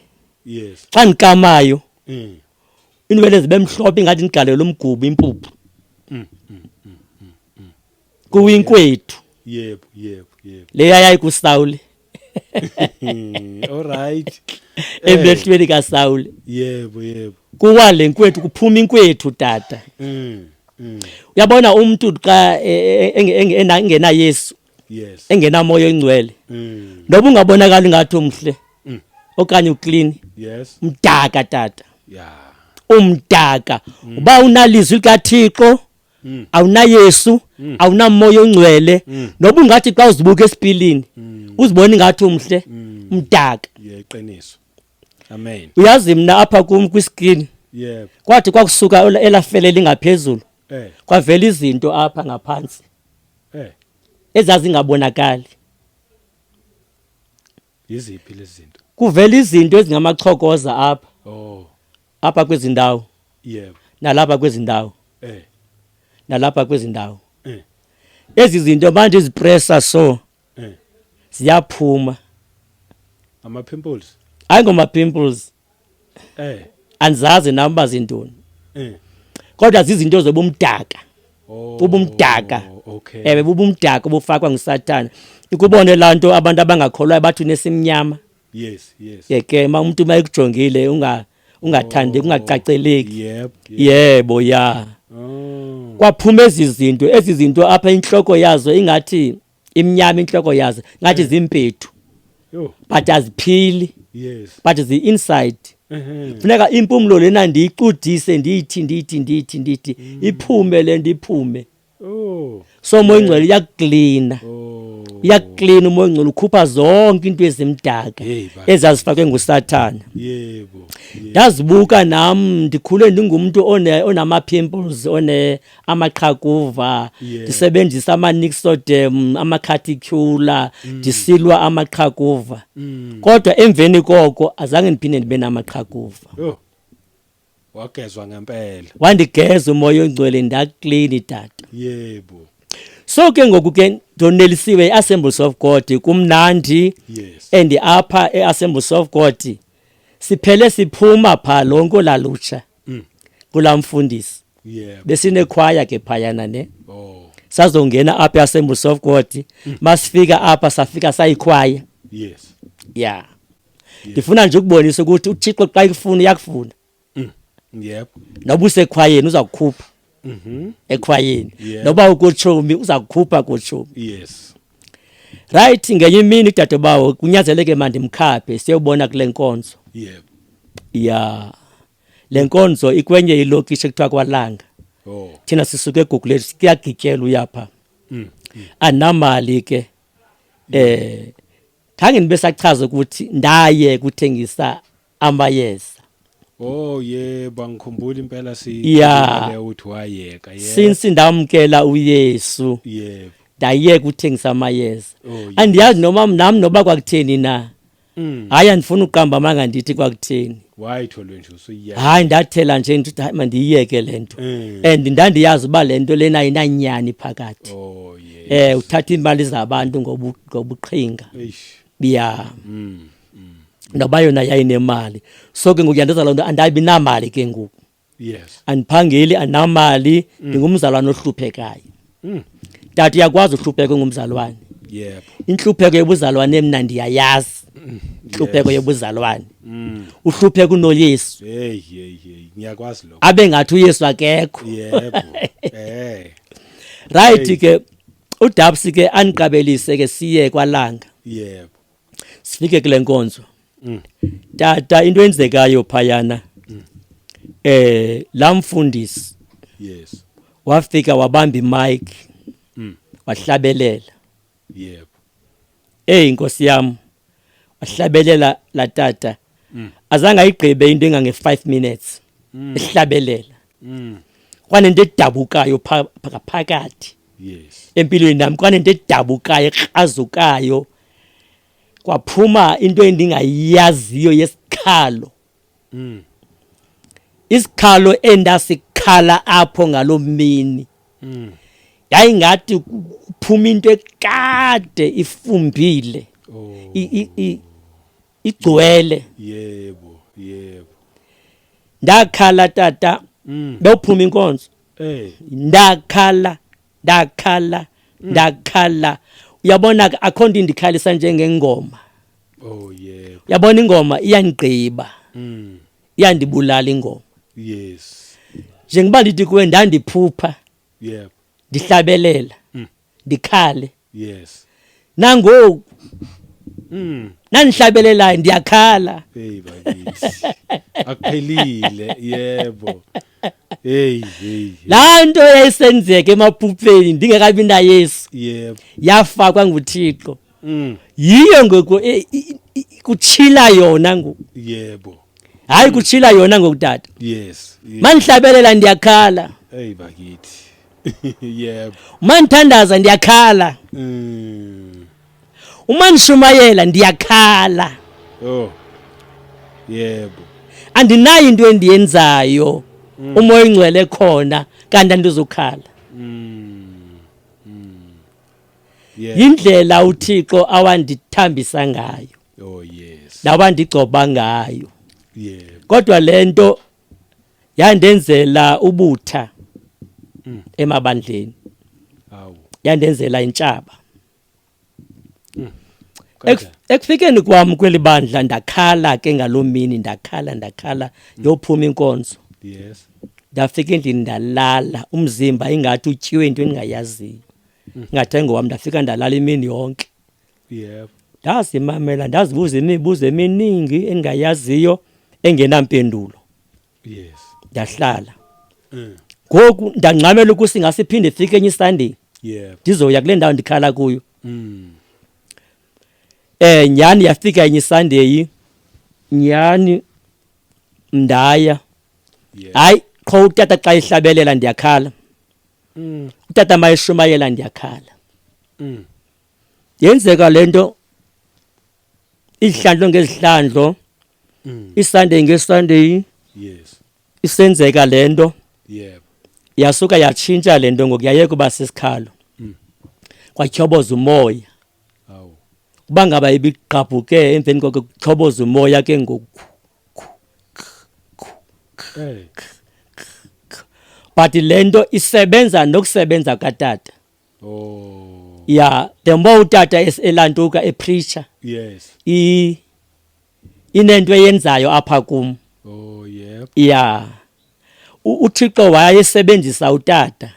yes
xa ndikamayo
eh. inwele zibe mhlophe ingathi ndigalelwe umgubo impuphu mm, mm. kuwinkwethu yebo
yebo yebo leya
yayikusawule
alright emehlweni
kasawule yebo yebo
kuwa le
nkwethu kuphuma inkwethu tata mm, mm. uyabona umuntu xa e, e, e, engena Yesu yes engena
moya oyingcwele
mm. noba ungabonakala ngathi umhle mm. okanye uclean yes mdaka
tata
yeah
umdaka
mm. uba unalizwi likaThixo mm. awunayesu mm. awunamoya ongcwele mm. noba ungathi xa uzibuka esipilini mm. uzibona ingathi umhle mm. mdaka yeqiniso
amen uyazi mina apha
kum kwiscreen yebo kwathi
kwakusuka
elafele lingaphezulu eh kwavela izinto apha ngaphansi eh ezazingabonakali
yiziphi lezi zinto kuvela izinto
ezingamachokoza apha oh
apha kwezi
ndawo yebo
nalapha kwezi
ndawo eh nalapha kwezi ndawo eh ezi zinto manje izipressa so eh ziyaphuma
ama pimples hayi ngoma
pimples eh andizazi nam uba zintoni eh kodwa zizinto zobumdaka oh, ubumdaka okay ewe
bubumdaka obufakwa
ngusathana ikubone laa nto abantu abangakholwayo bathi unesimnyama yes yes
yeke ma umntu
uma ekujongile unga ungathandi oh, kungacaceleki yep, yep. yebo
ya oh.
kwaphuma ezi zinto ezi zinto apha intloko yazo ingathi imnyama intloko yazo ngathi eh. zimpethu but aziphili yes but zi
inside
funeka impumlo lena ndiyicudise ndiyithi ndiyithi ndiyithi ndiyithi mm. iphume le nto iphume oh. so umoya ingcwele iyakuklina oh. iyakuklina umoya ingcwele ukhupha zonke into ezimdaka ezazifakwe ngusathana
ndazibuka
nam ndikhule ndingumntu onama-pimples amaqhakuva Yeah. ndisebenzisa amanixodem amakhathicula Mm. ndisilwa amaqhakuva kodwa emveni koko azange ndiphinde ndibe namaqhakuva Yho.
Wagezwa ngempela. wandigeza umoya
ongcwele ndaklini tata Yebo.
so ke
ngoku ke ndonelisiwe i-assemblies of god kumnandi Yes. and
apha
e-assemblies of god siphele siphuma phaa lonke olalutsha mm. kulaa mfundisi yeah.
besinekhwaya ke
phayana ne oh. sazongena
apha eassemblies of
god mm. masifika apha safika sayikhwaya yes
yeah
ndifuna nje ukubonisa ukuthi uthixo xa ikufuna uyakufuna mm. yep
noba
usekhwayeni uza kukhupha mhm. ekhwayini noba ukutshomi uza kukhupha kutshomi yes
right
ngenye imini udadobawo kunyazeleke mandimkhaphe siyobona kule nkonzo
yeah. ya
le nkonzo ikwenye ilokishi ekuthiwa kwalanga oh. thina sisuke egugulethu siyagityelwa uyapha mm. mm. anamali ke eh khange nibe sachaza ukuthi ndaye kuthengisa amayeza Oh
yebo angikhumbula impela si Yeah. le uthi wayeka yebo. since ndamkela
uyesu Yebo.
ndayeka uthengisa
amayeza Oh, yes. andiyazi noma nam noba kwakutheni na Mm. hayi andifuna uqamba amanga ndithi kwakutheni Wayitholwe nje
usuyiya. hayi ndathela nje
ndithi hayi mandiyiyeke le nto Mm. and ndandiyazi uba le nto lena ayinanyani phakathi Oh um yebo.
uthatha iimali
zabantu ngobu- ngobuqhinga Eish. biyam mm, mm. noba yona yayinemali so ke ngoku yandenza loo nto andabi namali ke ngoku yes
andiphangeli
anamali mm. ndingumzalwane mm. ohluphekayo mm. tata uyakwazi uhlupheka ngumzalwane yebo
inhlupheko
yobuzalwane mna ndiyayazi mm. inhlupheko yes. yobuzalwane mm. uhlupheka unoyesu hey hey hey ngiyakwazi
lokho abe ngathi
uyesu akekho
yebo
eh right ke uDabs ke aniqabelise ke siye kwalanga yebo
sifike
kule nkonzo mm. tata into enzekayo phayana mm. eh la mfundisi yes
wafika
wabamba imic mm. wahlabelela
yebo eyi
nkosi yam wahlabelela la tata mm. azange ayigqibe into engange-five minutes mm. ehlabelela mm. kwanento edabukayo phakaphakathi yes.
empilweni nam kwanento
edabukayo ekrazukayo kwaphuma into endingayaziyo yesikhalo mm. isikhalo endasikhala apho ngaloo mini mm. yayingathi kuphuma into ekade ifumbile oh. igcwele yebo
yebo
ndakhala tata mm. bewuphuma inkonzo eh. ndakhala ndakhala ndakhala uyabona ke akho nto indikhalisa njengengoma oh
yebo uyabona ingoma
iyandigqiba mm. iyandibulala ingoma yes
njengoba
ndithi kuwe ndandiphupha yebo
ndihlabelela
mm. ndikhale yes
nangoku
mm nandihlabelelayo ndiyakhala hey
bakithi akuphelile yebo hey hey laa
nto yayisenzeka emaphupheni ndingekabi nayesu yebo
yafakwa
nguthixo mm yiyo ngoku e- i- i- kutshila yona ngoku yebo
hayi kutshila
yona ngoku tata yes yes.
mandihlabelela
ndiyakhala hey bakithi
yebo uma ngithandaza
ndiyakhala Mm. uma ndishumayela ndiyakhala oh
yebo andinayo
into endiyenzayo umoya oyingcwele khona kanti andizukhala Mm. Mm.
yebo yindlela
uthixo awandithambisa ngayo oh yes
nawandigcoba
ngayo yebo
kodwa le nto
yandenzela ubutha mm. emabandleni
yandenzela
intshaba mm.
ekufikeni kwam
kweli bandla ndakhala ke ngaloo mini ndakhala ndakhala mm. yophuma inkonzo yes
ndafika endlini
ndalala umzimba ingathi utyiwe into endingayaziyo ingathi engowam ndafika ndalala imini yonke yebo
ndazimamela
ndazibuza imibuzo eminingi engingayaziyo engenampendulo yes
ndahlala
mm. ngoku ndangxamela ukuthi ngasiphinde ifike enye isunday yebo ndizoya
kule ndawo ndikhala
kuyo mm. eh nyani yafika enye isunday nyani mndaya
hayi qho utata
xa ihlabelela ndiyakhala mm. utata mayishumayela ndiyakhala mm. yenzeka lento izihlandlo ngezihlandlo mm. isunday ngesunday yes
isenzeka
lento yebo
yasuka
yatshintsha lento ngokuyayeka uba sisikhalo mm. kwatyhoboza umoya awu
kuba ngaba
ibigqabhuke emveni koko kutyhoboza umoya ke ngoku but lento isebenza nokusebenza katata
oh yeah the
more utata elantuka e preacher yes
i
inento eyenzayo apha kum oh yep
yeah
uthixo wayesebenzisa utata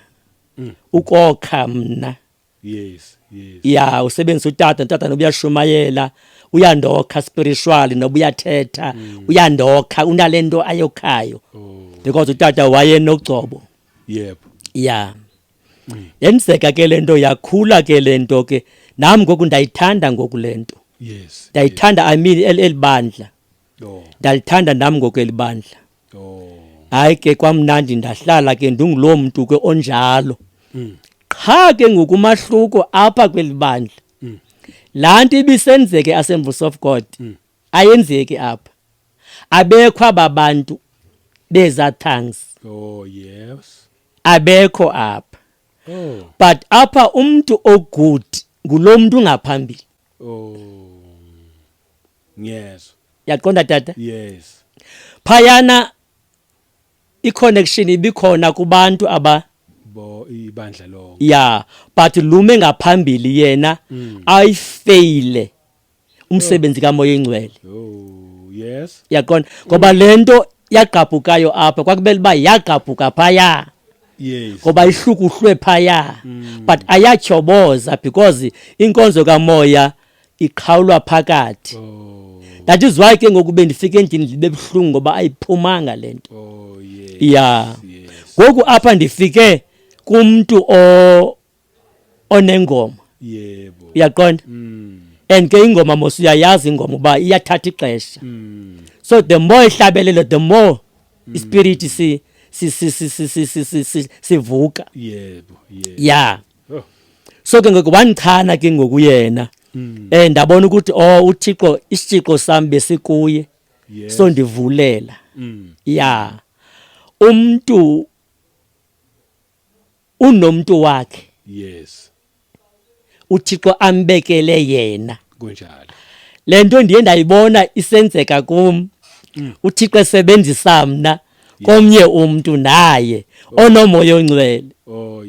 mm. ukokha mna yes
yes yeah usebenzisa
utata utata nobuyashumayela uyandokha spiritually nobuyathetha mm. uyandokha unalento ayokhayo oh. because utata wayenogcobo yep
yeah
mm. yenzeka ke le nto yakhula ke le nto ke nam ngoku ndayithanda ngoku le nto yes ndayithanda
yes. i mean
eli bandla oh.
ndalithanda nam ngoku
eli bandla oh.
hayi ke
kwamnandi ndahlala ke ndinguloo mntu ke onjalo mm. qha ke ngoku umahluko apha kweli bandla mm. laa nto ibisenzeke asemvuso of god mm. ayenzeki apha abekho aba bantu beza thanks oh yes
abekho
apha oh
but apha
umuntu ogood ngulomuntu ngaphambili
oh yes yaqonda tata
yes
phayana
iconnection ibikhona kubantu aba bo
ibandla lo ya but
lume ngaphambili yena mm. ayifeyile umsebenzi kamoya ingcwele oh,
yes yaqonda ngoba
lento yagqabhukayo apha kwakubele uba yagqabhuka phaya yes
ngoba ihlukuhlwe
phaya mm. but ayatyhoboza because inkonzo kamoya iqhawulwa phakathi oh. that
is why ke ngoku
bendifike endini ndibe buhlungu ngoba ayiphumanga le nto oh, yes. ya ngoku yes.
apha
ndifike kumntu o onengoma yebo
uyaqonda
mm. and ke ingoma mos uyayazi ingoma uba iyathatha ixesha mm. so the more ihlabelelo the more mm. ispirit si sivuka yebo
ya oh. so ke ngoku
wandichana ke ngoku yena um ndabona ukuthi o oh, uthixo isitshixo sam besikuye so
ndivulela
mm. ya umntu unomntu wakhe yes uthixo ambekele yena kunjalo
le nto ndiye
ndayibona isenzeka kum mm. uthixo esebenzisa mna komnye umntu naye oh. onomoya ongcwele oh,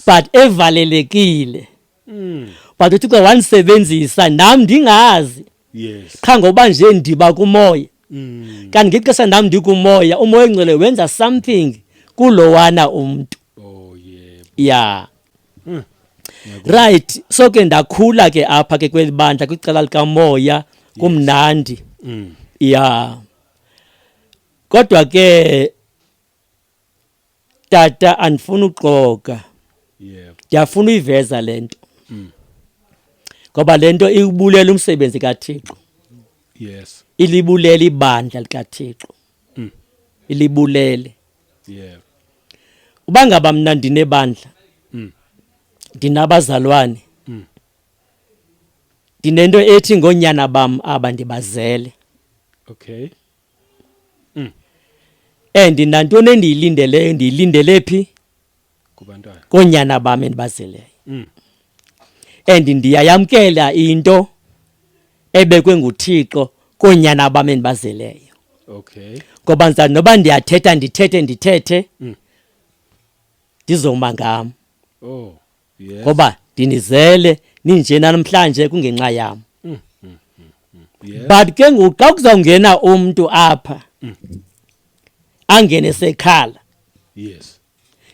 but evalelekile
mm. but uthi ke wandisebenzisa nam ndingazi yes. qha
ngoba nje
ndiba kumoya mm. kanti ngexesha nam ndikumoya umoya ongcwele wenza something kulowana umntu oh, yeah.
yeah. mm.
right so ke ndakhula ke apha ke kweli bandla kwicala likamoya kumnandi yes. mm. yeah kodwa ke tata andifuni uxoka
ndiyafuna uyiveza
le nto mm. ngoba le nto iwubulela umsebenzi kathixo yes
ilibulele
ibandla likathixo mm. ilibulele yeah
uba
ngaba mna ndinebandla mm. ndinabazalwane mm. ndinento ethi ngoonyana bam aba ndibazele okay Mm. And nantoni endiyilindeleyo ndiyilindele phi? Kubantwana.
Koonyana bam
endibazeleyo. Mm. And ndiyayamkela into ebekwe nguThixo koonyana bam endibazeleyo. Okay.
Ngoba ndisa noba
ndiyathetha ndithethe ndithethe. Mm. Ndizoma ngam. Oh.
yes. ngoba ndinizele
ninje namhlanje kungenxa yam mm, mm,
mm, yes. but ke ngoku
xa kuzawungena umntu apha mm. angene sekhala yes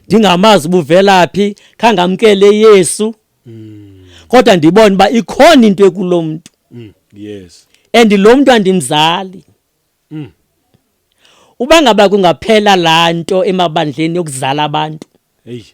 ndingamazi
ubuvelaphi khangamkele yesu mm. kodwa ndibone uba ikhona into ekulo mntu mm. yes
and lo mntu
andimzali mm. uba ngaba kungaphela laa nto emabandleni yokuzala abantu eyi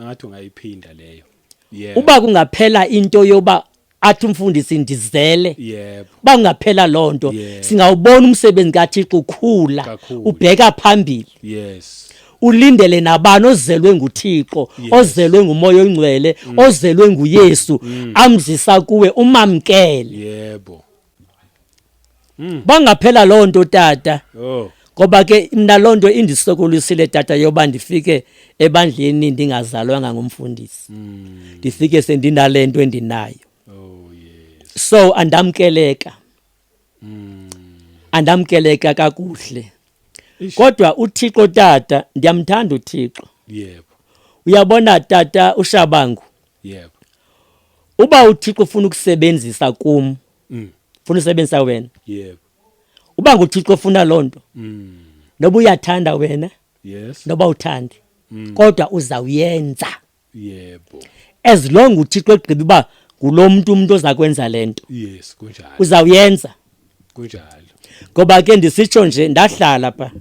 ngathi ungayiphinda leyo yeah. uba kungaphela
into yoba athi umfundisi ndizele yebo uba
kungaphela loo
nto yeah. singawubona
umsebenzi
kathixo ukhula ubheka phambili yes
ulindele
nabani ozelwe nguThixo yes. ozelwe ngumoya ongcwele mm. ozelwe nguYesu mm. amzisa kuwe umamkele yebo
Mm.
Bangaphela loo nto tata. Oh. Ngoba
ke mna
loo nto indisokolisile tata yoba ndifike ebandleni ndingazalwanga ngumfundisi. Mm. Ndifike sendinale nto endinayo.
Oh yes. So andamkeleka.
Mm. Andamkeleka kakuhle. Kodwa uThixo tata ndiyamthanda uThixo. Yebo.
Uyabona
tata uShabangu.
yebo uba
uthixo ufuna ukusebenzisa kum mm. funa usebenzisa wena yebo
uba nguthixo
ofuna loo nto mm. noba uyathanda wena yes noba
uthandi
mm. kodwa uzawuyenza yebo
as long
uthixo egqiba uba ngulo mntu umntu oza kwenza le nto yes kunjalo
uzawuyenza
kunjalo
ngoba ke
ndisitsho nje ndahlala pha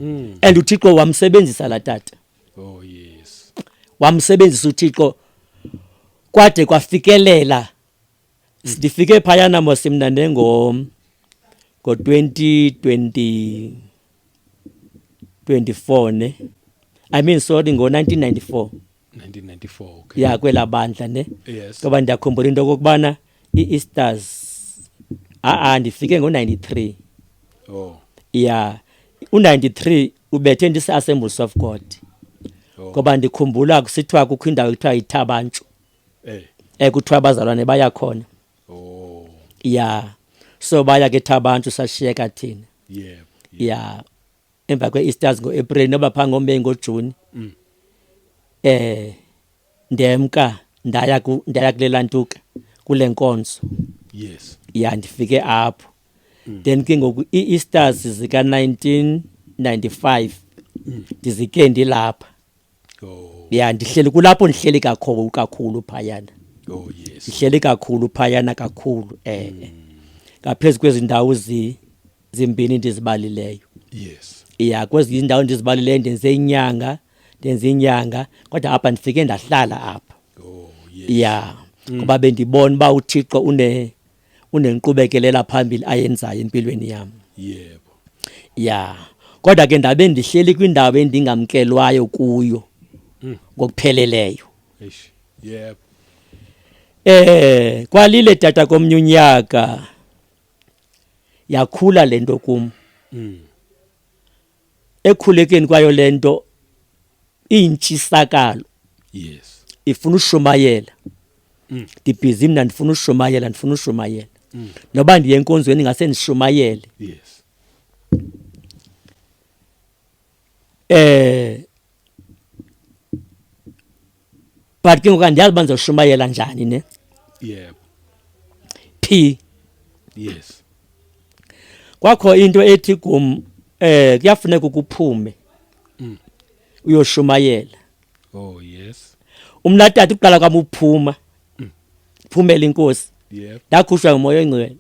mm. and uthixo wamsebenzisa la tata Oh yes.
Wamsebenzisa
uThixo kwade kwafikelela ndifike phayana mos mna nengo ngo-2020 24 ne i mean sorry ngo-1994 1994 okay.
ya kwela bandla ne
yes. ngoba ndiyakhumbula
into
okokubana i-Easters a-a ndifike ngo-93 oh
ya
u-93 ubethe ndise-assembles of god oh. ngoba ndikhumbula kusithiwa kukho indawo ekuthiwa yithabantshu eh. ekuthiwa abazalwane baya khona oh.
ya
so baya ke thabantshu sashiyeka thina yeah,
yeah. ya
emva kwe-easters ngo-april noba phaa ngomeyi ngojuni um ndemka ndaya ndaya kule lantuka kule nkonzo yes
ya ndifike
apho mm. then ke ngoku ii-easters zika-nineteen ninety-five mm. ndizike ndilapha oh. ya ndihleli kulapho ndihleli kakhulu kakhulu phayana oh, yes.
ndihleli kakhulu phayana
kakhulu um eh, eh. mm. ngaphezu kwezi ndawo zi zimbini ndizibalileyo yes
ya kwezinye indawo
ndizibalileyo ndenze inyanga ndenze inyanga kodwa apha ndifike ndahlala apha oh yes ya
mm. ngoba
bendibona uba uthixo une unenqubekelela phambili ayenzayo empilweni yam yebo
ya
kodwa ke ndabe ndihleli kwindawo endingamkelwayo kuyo mm. ngokupheleleyo
yebo eh
kwalile tata komnye unyaka yakhula le nto kum mm. ekhulekeni kwayo le nto iyintshisakalo yes
ifuna
ushumayela mm. ndibhizi mna ndifuna ushumayela ndifuna ushumayela mm. noba ndiye enkonzweni ngase ndishumayele yes
eh
but ke ngoku andiyazi uba ndizoshumayela njani ne yebo phi
yes
kwakho into ethi kum eh kuyafuneka ukuphume mm. uyoshumayela oh yes
umnatata uqala
kwam uphuma mm. phumela inkosi yebo ndakhushwa
ngumoya oyingcwele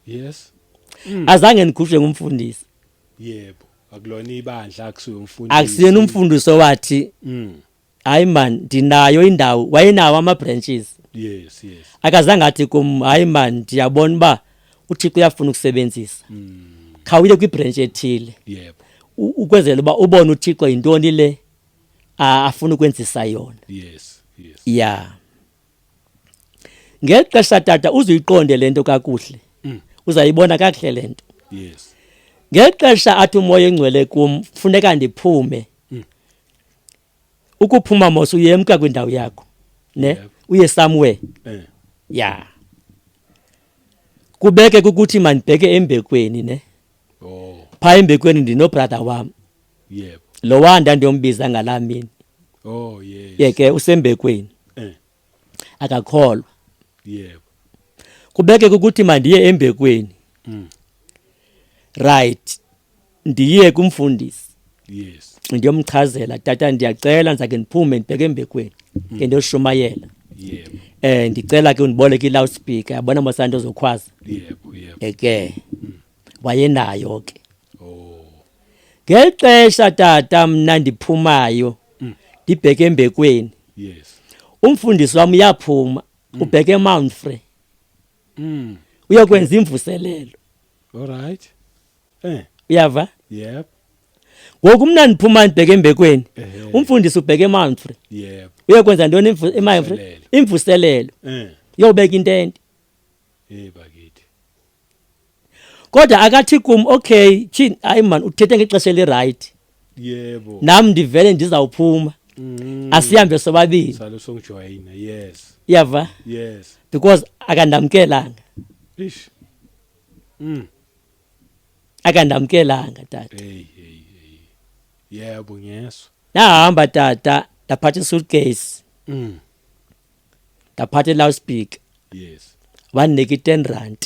yes mm.
azange ndikhushwe ngumfundisi yebo
akulona ibandla akusuye umfundisi akusiyena umfundisi
owathi mm. hayi man ndinayo indawo wayenawo ama-branches yes yes
akazange athi kum
hayi man ndiyabona uba uthixo uyafuna ukusebenzisa mm. khawuye kwibranch ethile yebo
ukwenzela uba
ubone uthixo yintoni le afuna ukwenzisa yona yes
yes yeah
ngeli xesha tata uzuyiqonde le nto kakuhle mm. uzayibona kakuhle le nto yes
ngeli xesha
athi umoya engcwele kum funeka ndiphume mm. ukuphuma mos uyemka kwindawo yakho ne yeah. uye somewhere eh. ya kubeke ukuthi mandibheke embekweni ne oh.
phaa embekweni
ndinobrother wam yep. lo
wa ndandiyombiza
ngalaa mini oh, yes.
ye ke usembekweni
eh. akakholwa
yep.
kubeke kukuthi mandiye embekweni mm. right ndiye kumfundisi yes
ndiyomchazela
tata ndiyacela ndizake ndiphume ndibheke embekweni mm. ke ndiyoshumayela yebo
eh ndicela ke undiboleke
i-loudspeaker yabona mosana nto zokhwaza yebo yebo
eke mm.
wayenayo ke oh
ngeli
xesha tata mna ndiphumayo mm. ndibheke embekweni yes
umfundisi wami
uyaphuma ubheke eMount Free mm. uyokwenza imvuselelo alright
eh
uyava yep
ngoku
mna ndiphuma ndibheke embekweni umfundisi ubheke emanfre yep uyokwenza
ntoni
emanfre imvuselelo eh uyobeka intente hey
bakithi
kodwa akathi kum okay tyhini hayi mani uthethe ngexesha elirayithi yebo
nam ndivele
ndizawuphuma mm. asihambe sobabini salo songijoyina
yes yava yes
because akandamkelanga ish
mm
akandamkelanga tata hey
hey hey yebo ngeso nahamba tata
ndaphatha suitcase mm ndaphatha loudspeaker yes
wandinika i-ten
rand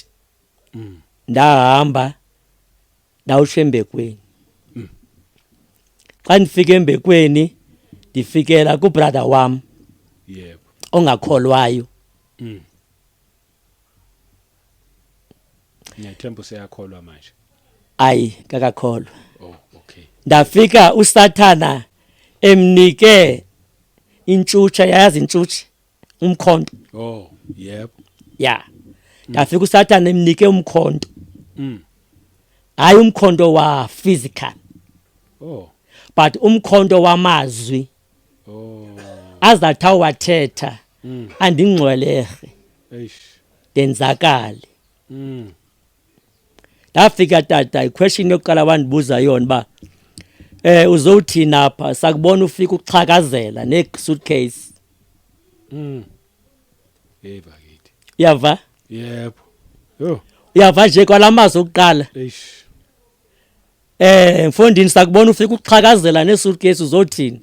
mm. ndahamba ndawutsho embekweni mm. xa ndifika embekweni ndifikela kubrother wam yep.
ongakholwayo mm. ngiyathemba useyakholwa manje ayi
kakakholwa oh, okay.
ndafika
usathana emnike intshutsha yayazi intshutsha umkhonto oh
yebo ya
ndafika usathane emnike umkhonto mm hayi umkhonto wa physical oh
but
umkhonto wamazwi
oh azathi
awathetha mm. andingcwelehe eish
denzakale
mm ndafika tata iquestion yokuqala wandibuza yona uba um uzowuthini apha sakubona ufika uxhakazela nesuitcase mm.
uyava
yebo yho
uyava nje kwala
mazwi okuqala
um
mfondini sakubona ufika uxhakazela nesuitcase uzothini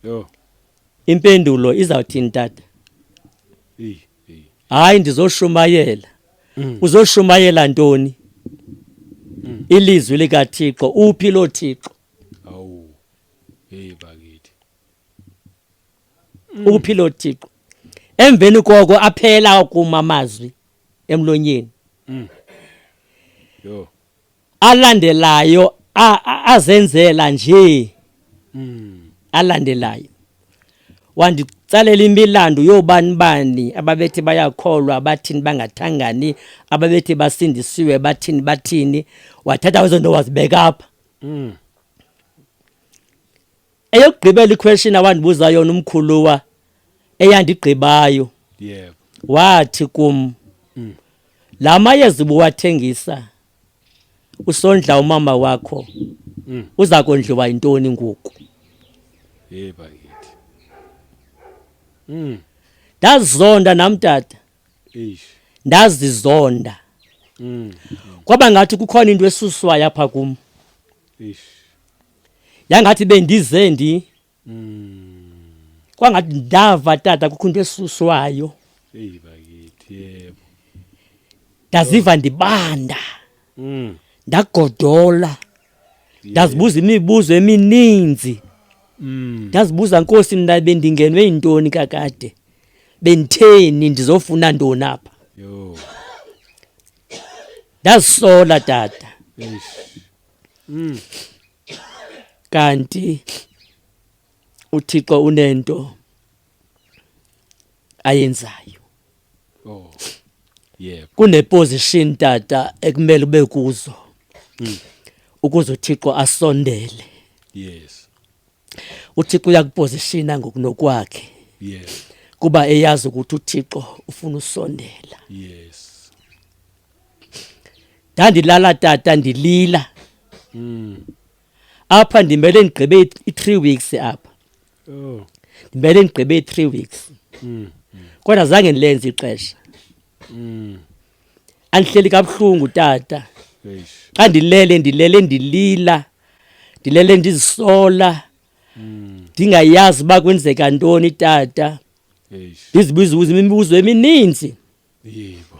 yho impendulo
izawuthini tata hayi ndizoshumayela mm. uzoshumayela ntoni mm. ilizwi likathixo uphi loo thixo awu
hey bakithi
mm. uphi loo thixo emveni koko aphela kuma amazwi emlonyeni mm.
yo alandelayo
azenzela nje hmm. alandelayo wanditsalela imilando yoobani bani ababethi bayakholwa bathini bangathangani ababethi basindisiwe bathini bathini wathatha ezo nto wazibeka apha hmm. eyokugqibela iquestion awandibuza yona umkhuluwa eyandigqibayo yebo
wathi kum
mm. la mayeza ubuwathengisa usondla umama wakho mm. uza kondliwa yintoni ngoku hey
bakithi mm.
ndazizonda nam tata eish
ndazizonda
mm. kwaba ngathi kukhona into esuswayo apha kum eish yangathi bendize ndi mm. kwangathi ndava tata kukho into esuswayo eyi
bakithi yebo
ndaziva ndibanda mm. ndagodola ndazibuza imibuzo emininzi mm. ndazibuza nkosi mna bendingenwe yintoni kakade benditheni ndizofuna ntoni apha ndazisola tata
mm.
kanti uthixo unento ayenzayo
oh yebo kuneposition
tata ekumele ube kuzo mm. ukuze uthixo asondele yes uthixo uyakupositiona ngokunokwakhe yes
kuba eyazi
ukuthi uthixo ufuna usondela yes ndandilala tata ndilila mm. apha ndimele ndigqibe i-three weeks apha oh.
ndimele ndigqibe
i-three weeks mm. kodwa zange ndilenze ixesha mm. andihleli kabuhlungu tata xa
ndilele
ndilele ndilila ndilele ndizisola mm. ndingayazi uba kwenzeka ntoni tata
ndizibuzibuza imibuzo
emininzi
yebo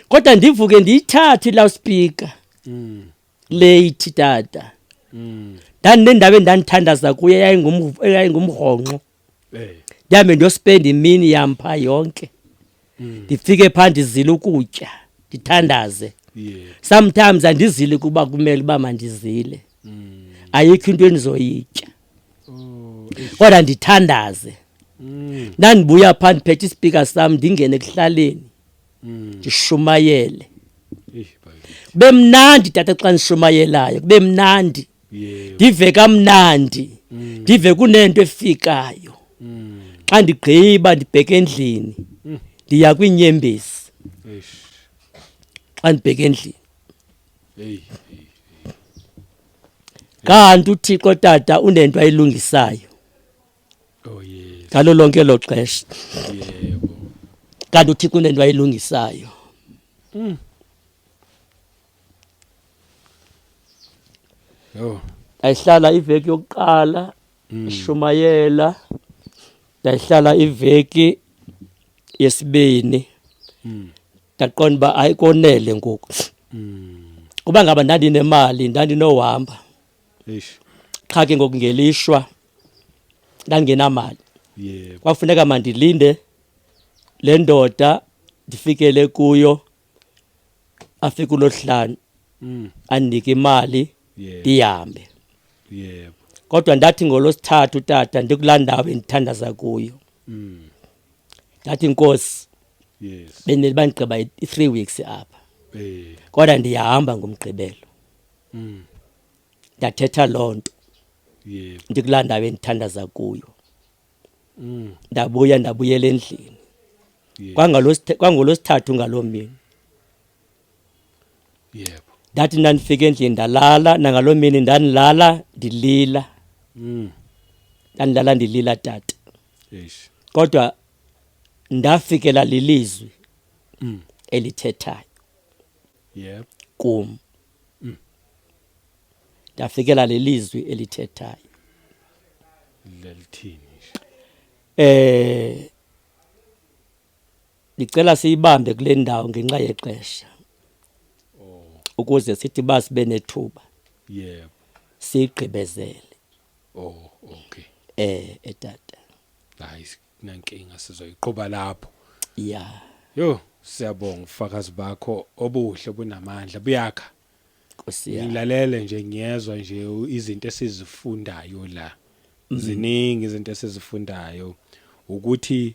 kodwa
ndivuke ndiyithathe iloudspeaker mm. late tata mm. ndandinendawo endandithandaza kuye yayingumrhonqo eh. ndihambe ndiyospenda imini yam phaa yonke mm. ndifike phaa ndizile ukutya ndithandaze sometimes andizile kuba kumele uba mandizile ayikho into endizoyitya oh, kodwa ndithandaze mm. ndandibuya phaa ndiphethe isipika sam ndingene ekuhlaleni mm. ndishumayele kube mnandi tata xa ndishumayelayo kube mnandi ndive kamnandi mm. ndive kunento efikayo xa ndigqiba ndibheke endlini ndiya kwiinyembezi xa ndibheke endlini kanti uthixo tata unento ayilungisayo
oh, ngalo lonke lo
xesha
kanti
uthixo unento ayilungisayo mm.
oh. ayihlala
iveki yokuqala mm. ishumayela ndayihlala iveki yesibini mm. ndaqonda uba hayi konele ngoku kuba ngaba ndandinemali ndandinohamba Eish.
qha ke ngoku
ngelishwa ndandingenamali Yebo.
kwafuneka mandilinde
le ndoda ndifikele kuyo afike ulohlanu Mm. andinike imali Yebo. ndihambe Yebo.
kodwa ndathi
ngolosithathu tata ndikulaa ndawo endithandaza kuyo Mm. ndathi nkosi yes
bendele bandigqiba
i-three weeks apha eh kodwa ndiyahamba ngomgqibelo mm ndathetha loo nto yeah
ndikulaa ndawo
endithandaza kuyo mm ndabuya ndabuyela endlini yeah kwangolosithathu ngaloo mini
yebo ndathi ndandifika
endlini ndalala nangaloo mini ndandilala ndilila mm. ndandilala ndilila tata Eish.
kodwa
ndafikela lilizwi mm. elithethayo
yebo kum
mm. ndafikela lelizwi elithethayo
lelithini eh
Ndicela siyibambe kule ndawo ngenxa yexesha ukuze sithi uba sibe nethuba yebo siyigqibezele
oh okay eh etata
hayi
nankinga sizoyiqhuba lapho ya
yo
siyabonga ufakazi bakho obuhle bunamandla buyakha Nkosi yami.
ngilalele nje ngiyezwa
nje u- izinto esizifundayo la ziningi izinto esizifundayo ukuthi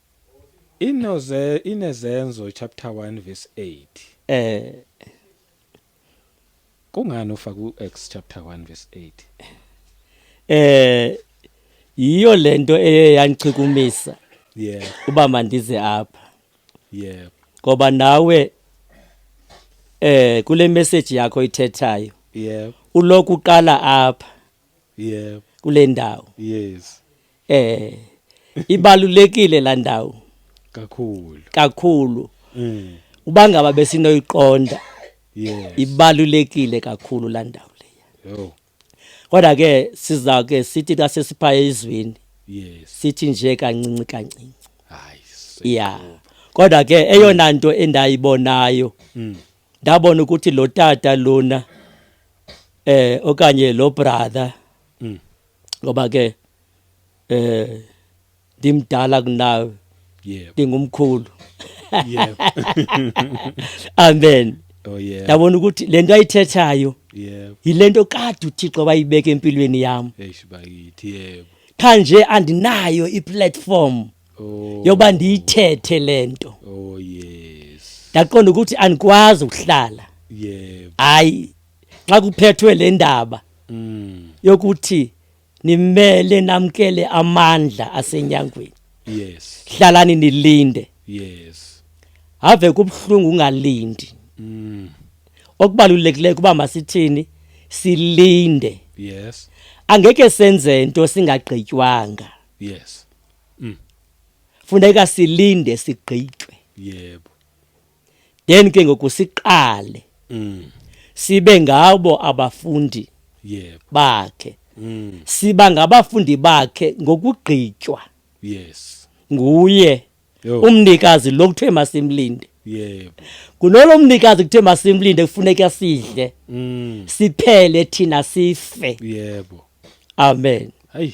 Inoze
inezenzo chapter 1 verse 8. Eh kungani ufaka uActs chapter 1 verse 8? Eh
yiyo lento eye yangichikumisa. Yeah. Uba mandize apha. Yeah. Ngoba nawe eh kule message yakho ithethayo. Yeah. Uloku uqala apha. yebo kule ndawo yes eh ibalulekile la ndawo kakhulu kakhulu mm. uba ngaba besinoyiqonda yes ibalulekile kakhulu la ndawo leya yo kodwa ke siza ke sithi xa sesipha ezweni yes sithi nje kancinci kancinci hayi yeah kodwa ke eyona nto endayibonayo mm. ndabona ukuthi lo tata lona eh okanye lo brother mm. ngoba ke eh ndimdala kunawe yebo ndingumkhulu yebo amen oh yeah ndabona ukuthi lento ayithethayo yebo yilento kade uThixo wayibeka empilweni yami eish bakithi yebo kanje andinayo iplatform oh. yoba ndiyithethe le nto oh, yes. ndaqonda ukuthi andikwazi ukuhlala hayi yeah. xa kuphethwe le ndaba mm. yokuthi nimele namkele amandla asenyangweni yes hlalani nilinde yes have kubuhlungu ungalindi mm. okubalulekileyo kuba masithini silinde yes angeke senze into singagqitywanga yes Mm. Funeka silinde sigqitywe. Yebo. Then ke ngoku siqale. Mm. Sibe ngabo abafundi. Yebo. Bakhe. Mm. Siba ngabafundi bakhe ngokugqitywa. Yes. Nguye. Yo. Umnikazi lo kuthiwe masimlinde. Yebo. Kunolo mnikazi kuthe masimlinde kufuneka sidle. Mm. Siphele thina sife. Yebo. Amen. Hayi.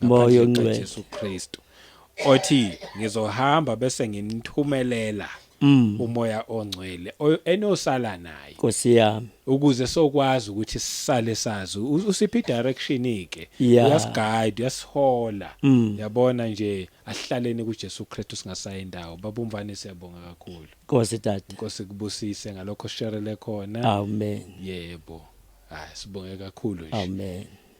moya ongcwele
Jesu
Kristu othi ngizohamba bese nginithumelela mm. umoya ongcwele enosala naye Nkosi yami
ukuze sokwazi
ukuthi sisale sazi usiphi direction ike yeah. uyasiguide uyasihola mm. yabona nje asihlaleni kuJesu Kristu singasayi indawo babumvane siyabonga kakhulu Nkosi tata Nkosi
kubusise
ngalokho sherele khona amen
yebo
hayi sibonge kakhulu nje amen